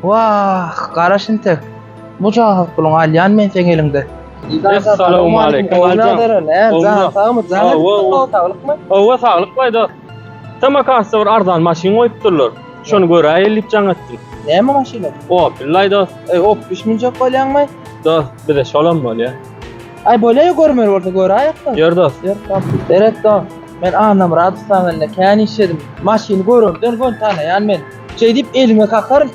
Wah, gara şintek. Bu jahat puluňy alýan men seň eliňde. Essalawmaleýkim, Oguljan. Janyň sagmy, janyň sagmy, saglykmy? Hawa, saglyk baý dost. Samarkantda bir arzan maşyn goýupdyrlar. Şony göräýeli diýip jaň etdim. Näme maşyny? Opel laý dost. Eý, Opel münjek bolýaňmy? Dost, bize şolam bolýa. Aý, bolýa-ýa görmeli bolsa göräýek-de. Ýör dost. Ýör dost. Seret dost, men Annamyradowlaň elinde kän işledim. Maşyny görenden göni tanaýan men. Şeýdip elime kakar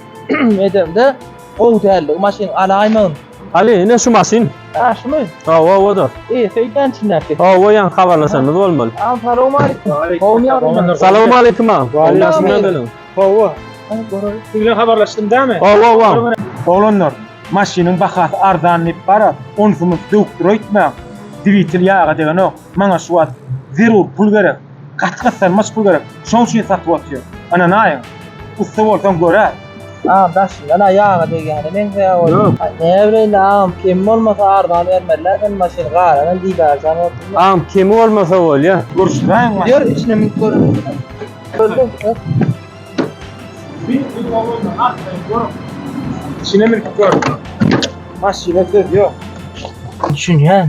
edemde gowy däldi. Maşyn alaýmagyn. Ali, ine şu maşyn. Ha, şumy? Hawa, oda. E, söýdän içindäki. Hawa, ýan habarlaşanymyz bolmaly. Assalamu alaykum. Gowmy ýagdaýlar? Salam alaykum ağa. Gowmy ýagdaýlar? Hawa. Siz bilen habarlaşdym dämi? Hawa, hawa. Oglanlar, maşynyň bahasy arzan diýip bara, onsumyz döwüp dur öýtmäň. Dwitel ýaga degenok. Maňa şu wagt zerur pul gerek. Gaty gyssanmaç pul gerek. Şoň üçin satyp otyr. Ynanaýyň. Ussa bolsaň göräý. Agam daşyndan-a ýaga degýäne meňzeýär oý. Näbileýin indi agam kemi bolmasa arzan bermezler sen maşyny galanam diýdarjan bolsun. Agam kemi bolmasa bolýa. Görüşdräýiň maşyny. Ýör içine münüp göreliň. Içine münüp gör. Maşyna söz ýok. Düşünýän.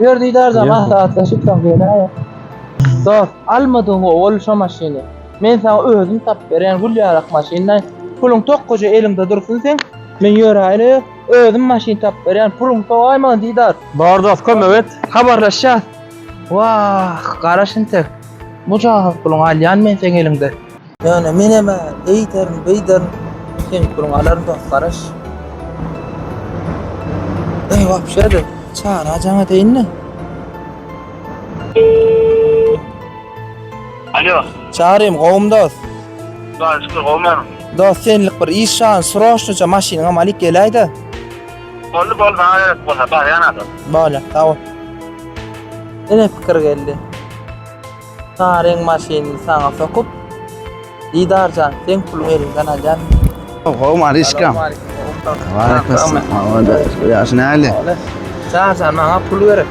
Ýör didarja maslahatlaşyp soň geleýik. Dost, almadygyňy ol şo maşyny. Men saňa özüm tapyp berýän gül ýarak maşynlaý. Puluň tokgaja eliňde dursun seň. Men ýöräýeli, özüm maşyn tapyp berýän, puluň sowaý maňa didar. Bar dost, kömek et. Habarlaşýas. Wah, garaş intek. Mujahat puluňy alýan men seň eliňde. Ýöne menem-ä eýderin, beýderin, düşünip duruň alaryn dost garaş. Eý wapşe-de, Çary ajaň eteýin-le. Alo. Çarym, gowumy dost? Hudaýa şükür, gowy men. Dost, senlik bir iş şan, sroçnyça maşynyňam alyp geläý-de. Boldy, boldy, maňa gerek bolsa, barýan-a dost. Bolýar, sag bol. Ine pikir geldi. Saňa reňk maşynyny saňa sokup Didarjan seň puluň eliňden alýan. Gowy Maryşkam. Ýaş näli? Çarjan maňa pul gerek.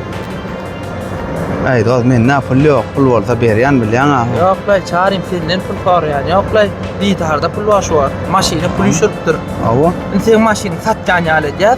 Aý dost mende pul ýok. Pul bolsa berýän bilýän aga. Ýok laý çarym senden pul soraýan. Ýok laý didarda pul bar şu wagt. Maşyna pul üşüripdir. Hawa. Indi seň maşyny satýan ýaly edýär.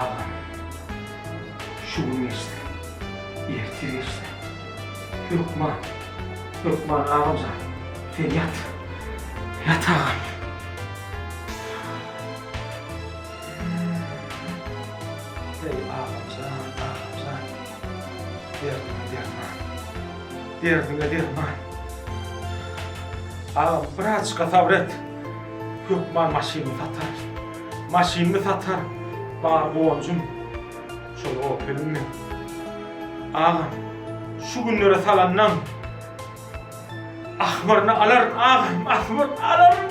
Agam, şu gün geçse, erte geçse. Hökman, hökman agam jan, sen ýat. Ýat agam. Eý agam jan, agam jan. Derdiňe derman. Derdiňe derman. Agam, birazajyk-a sabyr et. Hökman maşynymy satar. Maşynymy satar, bar gonjum şol Opeliň men. Agam, şu günlere salandan ahmyryny alaryn agam, ahmyryny alaryn!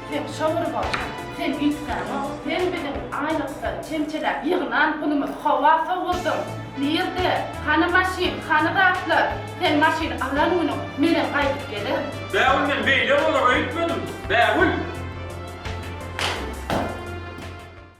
Sen şowly bol. Sen üýtgäňok. Sen biziň aýlykdan çemçeläp ýygnan pulumyzy howa sowurdyň. Nirde? Hany maşyn? Hany zatlar? Sen maşyny alan günüň menem gaýdyp gelerin. Bägül men beýle bolar öýtmedim. Bägül!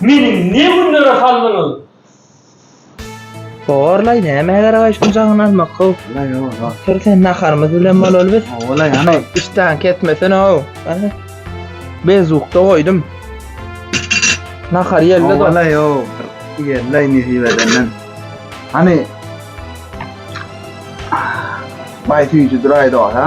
Meni ne günlere saldyňyz? Horlaý, näme eder gaýşyň jaňyny almak how? Ola ýok. Otur sen naharymyz bilen bolaly biz. Ola ýany. Işdäň kesmesene how. Bezukda goýdum. Nahar ýelde do. Ola ýok. Ýerleý nesip edenden. Hany. Baý süýji duraýda ha.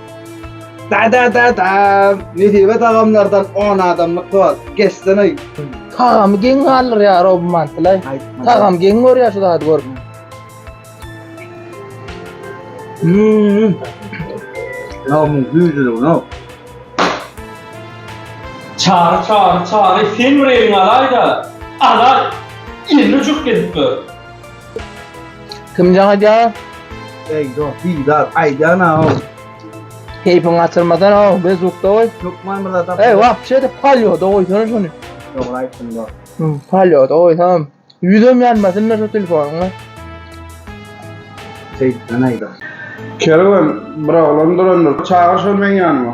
Da da da da. Nesibe dagamlardan 10 adamlyk bar. Geçsene. Tagamy geň galdyr ya Rob Mantlay. Tagam geň gör ya şu zady gör. Hmm. Lavmun güýjüli bu no. Çary çary çary sen bir elin alaýda. Ala. Elini çuk edip dur. Kim jaň edýär? Eý, dost, Didar, aýdýan-aw. Keýpiňi gaçyrmasan-aw, biz ýurtda goý. Hökman bir zat. Eý, wapşe-de polýoda goýsana şony. Dogry aýtdyň, dost. Hum, polýoda goýsam, ýüzem ýanmasyn-da şu telefonyň. Seýitden aýda. Kerwen, bir oglan durandyr. Çagyr şony meň ýanyma.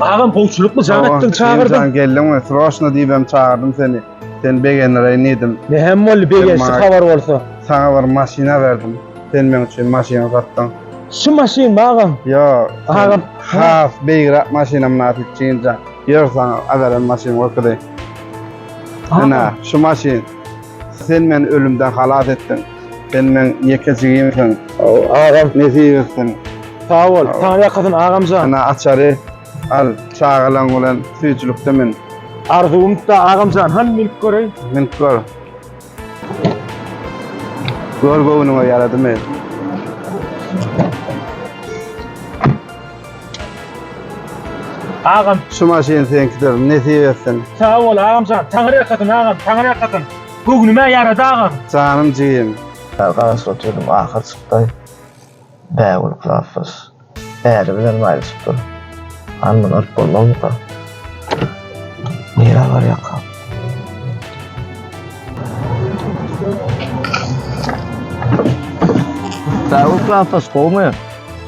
Agam howçulukly jan etdiň çagyrdyň. Sen geldiň we sroşna diýip hem çagyrdım seni. Sen begendireýin diýdim. Ne hem boldy begençli habar bolsa. Sana bir maşyna berdim. Sen meň üçin maşyna satdyň. Şu maşyn magam. Yo. Agam. Has beýgrak maşyna mynasyp çynja. Ýör sana agarem maşyn görkezeyim. Ana şu maşyn. Sen meni ölümden halas etdiň. Sen meň ýeke jigimsiň. Agam nesip etsin. Sag bol. Saňa ýakasyn agamjan. Ana açary al, çagalaň bilen süýjülikde min. Arzuwymda agamjan, hany minip göreýin. Minip gör. Gör göwnüňe ýaradymy. Agam. Şu maşyn seňkidir, nesip etsin. Sag bol agamjan, Taňry ýakasyn agam, Taňry ýakasyn. Göwnüme ýarady agam. Janym jigim. Garaşyp oturdym ahyr çykdy. Bägül klasdaş äri bilen maýlaşypdyr. Hany muny alyp bolmazmyka? Nirä barýarka? Bägül klasdaş gowumy?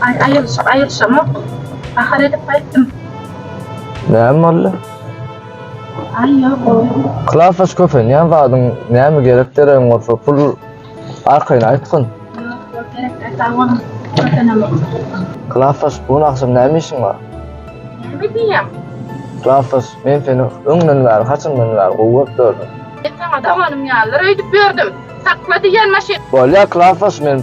Ay ayılış, ayılışam yok. Bahar edip kayttım. Näme boldy? Ay yok o. Klafaş köpenýän zadyň näme gerek deregiň bolsa pul arkaýyn aýtgyn. Yok gerek de sağ olun. Köpenem yok. Klafaş bu gün agşam näme işiň bar? Ne bileyim. Klafaş men seni öňden bäri haçandan bäri gowy görüp gördüm. Ben sana daganım yalar öydüp gördüm. Sakla diyen maşin. Bolýar Klafaş men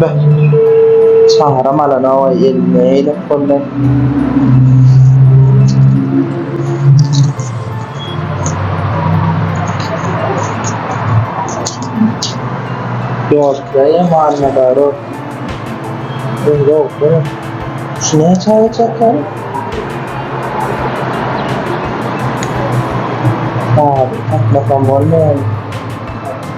Beh. Çagram alan owaý elini eýlep gollar. Ýolçy eý Muhammedaro. Öňde otur. Şu näçe aýat ýatar? Sagat tapmasam bolmaýar.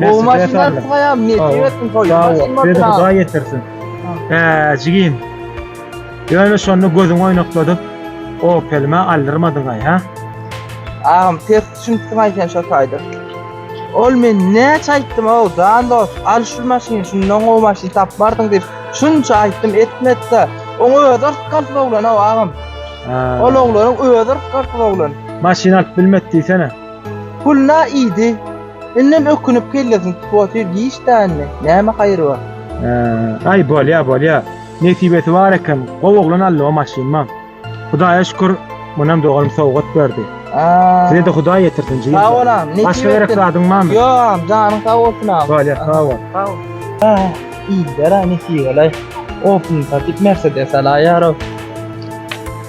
Gowy maşynlar sygaýam, nesip etsin toýy. Beni Hudaý ýetirsin. Hä, jigim. Ýöne şonda gözüňi oýnakladyp, Opelime aldyrmadyň-aý, hä? Agam, pes düşünipsiň-aý sen şo taýda. Ol men näçe aýtdym-ow, jan dost, al şu maşyny, şundan gowy maşyn tapmardyň diýip, şunça aýtdym, etmedi-de. Oňa özi yrtgars oglan-ow, agam. Ol oglanyň özi yrtgars oglan. Maşyn alyp bilmedi diýsene. Puluna iýdi. Indem ökünip kellesini tutup otyr giç dänini. Näme haýry bar. Aý bolýa bolýa. Nesibesi bar eken gowy oglan aldy o maşynymam. Hudaýa şükür munam doganym sowgat berdi. Sizede Hudaý ýetirsin jigim. Sag bol agam. Başga gerek zadyň barmy? Ýok agam janyň sag bolsun agam. Bolýa sag bol. Sag bol. Aý iýdiler-aý nesibelay. Opel satyp mersedes alaýar-ow.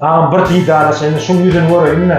Agam bir didarlaşaýynda şuň ýüzüni göreýinle.